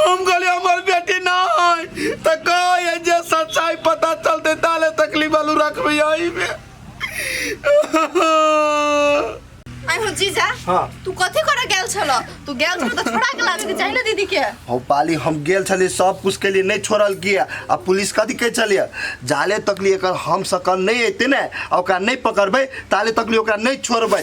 हम कहली हमर बेटी ना है तो कहो ये जे सच्चाई पता चलते ताले तकलीफ आलू रखबे यही में आई हो जीजा हाँ। तू कथी करे गेल छल तू गेल छल त छोड़ा के लाबे के चाही ना दीदी के हम पाली हम गेल छलिए सब कुछ के लिए नहीं छोड़ल किया आ पुलिस कथी कहे छलिए जाले तक लिए एकर हम सकल नहीं अयते ने आ ओकरा नहीं पकड़बै ताले तक लिए ओकरा नहीं छोड़बै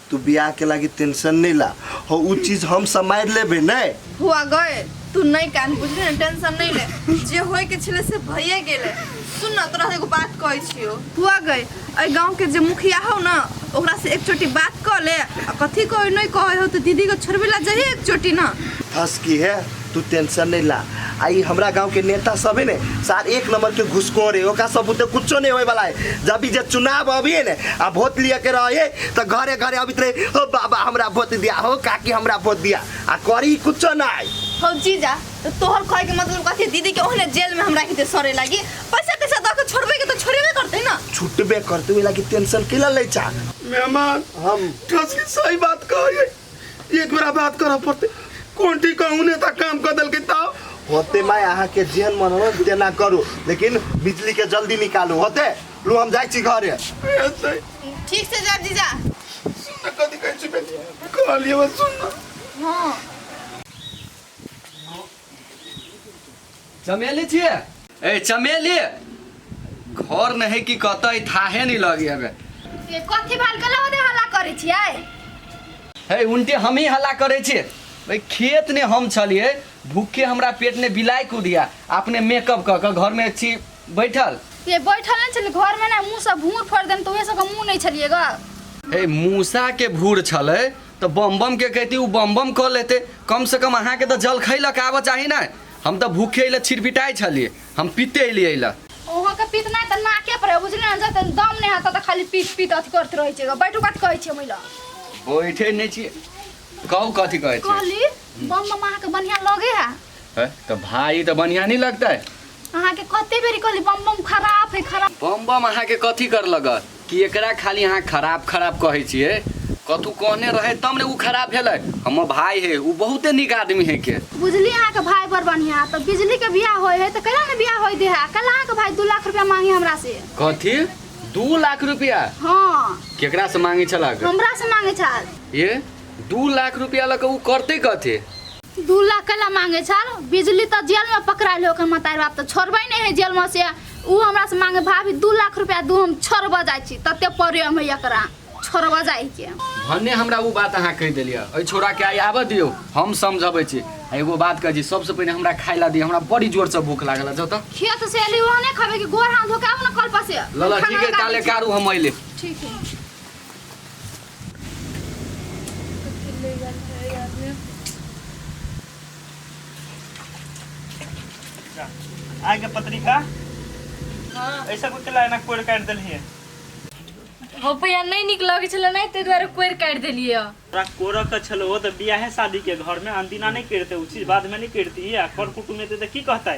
तू बियाह के लागी टेंशन नहीं ला हो उ चीज हम समार लेबे नहीं हुआ गए तू नहीं कान बुझले ना टेंशन नहीं ले जे होय के छले से भइए गेले सुन ना तोरा से एगो बात कहै छियो हुआ गए ए गांव के जे मुखिया हो ना ओकरा से एक छोटी बात कह ले आ कथी कहै नहीं कहै हो तो दीदी को छोड़बे ला जाइए एक छोटी ना फंस की है तू टेंशन नहीं ला आई हमरा गांव के नेता सब है ने सार एक नंबर के घुसखोर है ओका सब उते कुछो नहीं होए वाला है जब भी जे चुनाव अभी है ने आ वोट लिए के रहे तो घरे घरे अभी रहे हो बाबा हमरा वोट दिया हो काकी हमरा वोट दिया आ करी कुछो नहीं हो जीजा तो तोहर कहे के मतलब कथी दीदी के ओहने जेल में हमरा के सरे लागी पैसा कैसा दऽ के छोड़बे के तो छोड़बे करते ना छुटबे करते हुए लागी टेंशन के ला ले चा मेहमान हम ठस के सही बात कहिए एक बेरा बात करऽ पड़ते कोन ठीक कहूँ नेता काम कर देलकै तब होते मैं यहाँ के जेन मन हो तेना करू लेकिन बिजली के जल्दी निकालू होते लो हम जाए छी घरे ऐसे ठीक से जा जीजा सुन कथी कहै छी बेटी कहलिए बस सुन हाँ चमेली छिए ए चमेली घर नहीं कि कत ई थाहे नहीं लगी हमें से कथी भाल के लवदे हल्ला करै छियै हे उनटे हम ही हल्ला करे छे भाई खेत ने हम छलिए भूखे हमरा पेट ने बिलाई कुदिया अपने मेकअप क के घर में छी बैठल से बैठल नहि छलै घर में ना मुंह से भूर फोड़ देन तऽ ओहे सबके मुंह नहि छलियै ग हे मूसा के भूर छले तऽ बम बम के कहती उ बम बम कऽ लेते कम से कम अहाँ के तऽ जल खैलक आबऽ चाही ना हम तऽ भूखे अइले छिरपिटाई छलिए हम पीते अइलिए अइले ओहो के पीत ना तऽ नाके पर बुझले ना जते दम ने हता तऽ खाली पीत पीत अथी करत रहै छै बैठू कत कहै छै महिला बैठे नहीं छी कहू कथी कहै छी कहली बम बम अहाँ के बढ़िया लगे है हैं? तऽ भाई तऽ बढ़िया नहीं लगता है अहाँ के कते बेरी कहली बम बम खराब है खराब बम बम अहाँ के कथी कर लगत कि एकरा खाली अहाँ खराब खराब कहै छियै कतहु कहने रहै तब ने ओ खराब भेलै हमर भाय हे ओ बहुते नीक आदमी हे के बुझली अहाँ के भाई बड़ बढ़िया तो बिजली के बियाह होय है तो कैला ने बियाह होय दे है कल अहाँ के भाई दू लाख रुपया मांगे हमरा से कथी दू लाख रुपया हाँ केकरा से मांगे छलक हमरा से मांगे छल ये दू लाख रुपया लऽ कऽ ओ करतै कथी दू लाख कैला मांगे छल बिजली तो जेल में पकड़ाइल हो के मतार बाप तो छोड़बे नहीं है जेल में से ऊ हमरा से मांगे भाभी दू लाख रुपया दू हम छोड़बा जाइ छी तते प्रेम है एकरा छोड़बा जाइ के भन्ने हमरा ऊ बात अहाँ कहि देलियै एहि छोराके आइ आबऽ दियौ हम समझबै छी आ एगो बात कहै छी सबसँ पहिने हमरा खाइ लए दियौ हमरा बड़ी जोरसँ भूख लागल जौ तऽ खेत से एली वहाँ नहीं खाबे कि गोर हाथ धोके आबू ना कल पर से लल ठीक है ताले कारू हम अइले ठीक है आय के पत्रिका हाँ ऐसा कुछ ला एना कोड़ काट देलिए हो भैया नहीं नीक लगै छलै नहि ताहि दुआरे कोरि काटि देलियै हँ। तोरा कोरक के छलो हो तऽ बियाहे शादी के घर में अनदिना नहीं करते उ चीज बाद में नहीं करती है कर कुटुम एते तऽ की कहते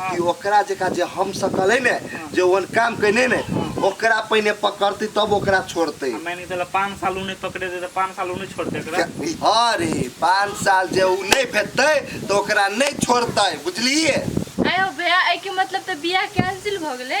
कि ओकरा जेका जे हम सकल है ने जे ओहन काम कने ने ओकरा पहिने पकड़ते तब ओकरा छोड़ते मैं नहीं तो पाँच साल उन्हें पकड़े दे तो पाँच साल उन्हें छोड़ते हाँ रे पाँच साल जे उ नहीं भेटते तो ओकरा नहीं छोड़ते बुझलिए आयो भैया ए के मतलब तो बियाह कैंसिल भ गेले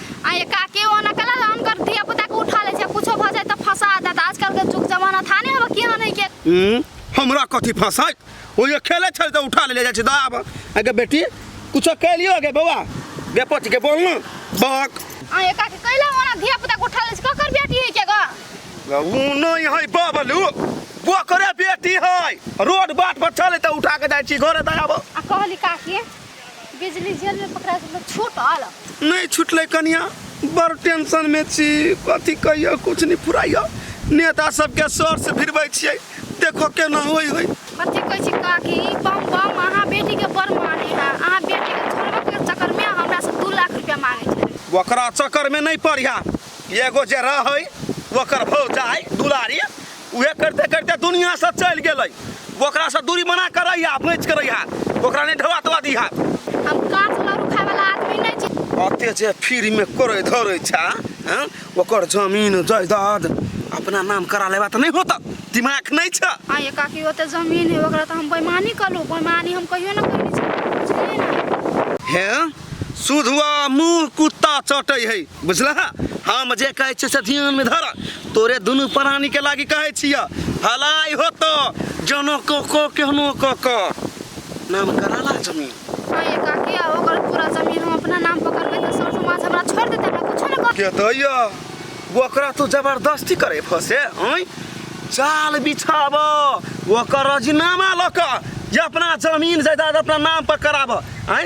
आ ये का के ओना कला अनकर धिया पुता के उठा ले छै कुछो भ जाए त फंसा देत आजकल के जुग जमाना था ने अब किया नहीं के हम्म, हमरा कथी फंसाइत ओ ये खेले छल तो उठा ले जाए दा आब आगे बेटी कुछो कह लियो गे बौआ गे पच के बोल ना बक आ ये का के कैला ओना धिया पुता के उठा ले छै ककर बेटी है के गा ऊ नहीं है बाबलू वो करे बेटी है रोड बाट पर चले तो उठा के जाए छी घरे दा आब आ कहली का के बिजली जेल में पकड़ा के लोग छूटल नहीं छुटल कनिया बड़ टेंशन में छी कथी कहियो कुछ नहीं फुराइयो नेता सबके सर से भिड़बै छियै देखो केना होई होई कथी कहै छी काकी बम बम अहाँ बेटी के बड़ माने है अहाँ बेटी के छोड़बे के चक्कर में हमरा से दू लाख रुपया मांगे छले ओकरा चक्कर में नहीं पड़िया एगो जे रहै ओकर भौजाई दुलारी उहे करते करते दुनिया से चल गेलै ओकरा से दूरी बना के रही आप नहीं करे हाथ ओकरा नहीं ढवा तवा दी हाथ हम काट लरू खाए वाला आदमी नहीं छी अते जे फ्री में करे धरे छा हैं? ओकर जमीन जायदाद अपना नाम करा लेबा त नहीं होता दिमाग नहीं छ हाँ ये काकी ओते जमीन है ओकरा तो हम बेमानी कलू बेमानी हम कहियो ना करनी छी बुझलियै ना हैं सुधुआ मुंह कुत्ता चटै है बुझला हम जे कहै छी से ध्यान में धर तोरे दुनू प्राणी के लागी कहै छिया भलाई होतो जनो को को केहनो को को नाम कराला जमीन अरे काकी आ ओकर पूरा जमीन हम अपना नाम पर करबे त सर समाज हमरा छोड़ देते हमरा कुछ न कर के दैया ओकरा तू जबरदस्ती करे फसे हैं चाल बिछाब ओकर रजीनामा लऽ कऽ जे अपना जमीन जायदाद अपना नाम पर कराब हैं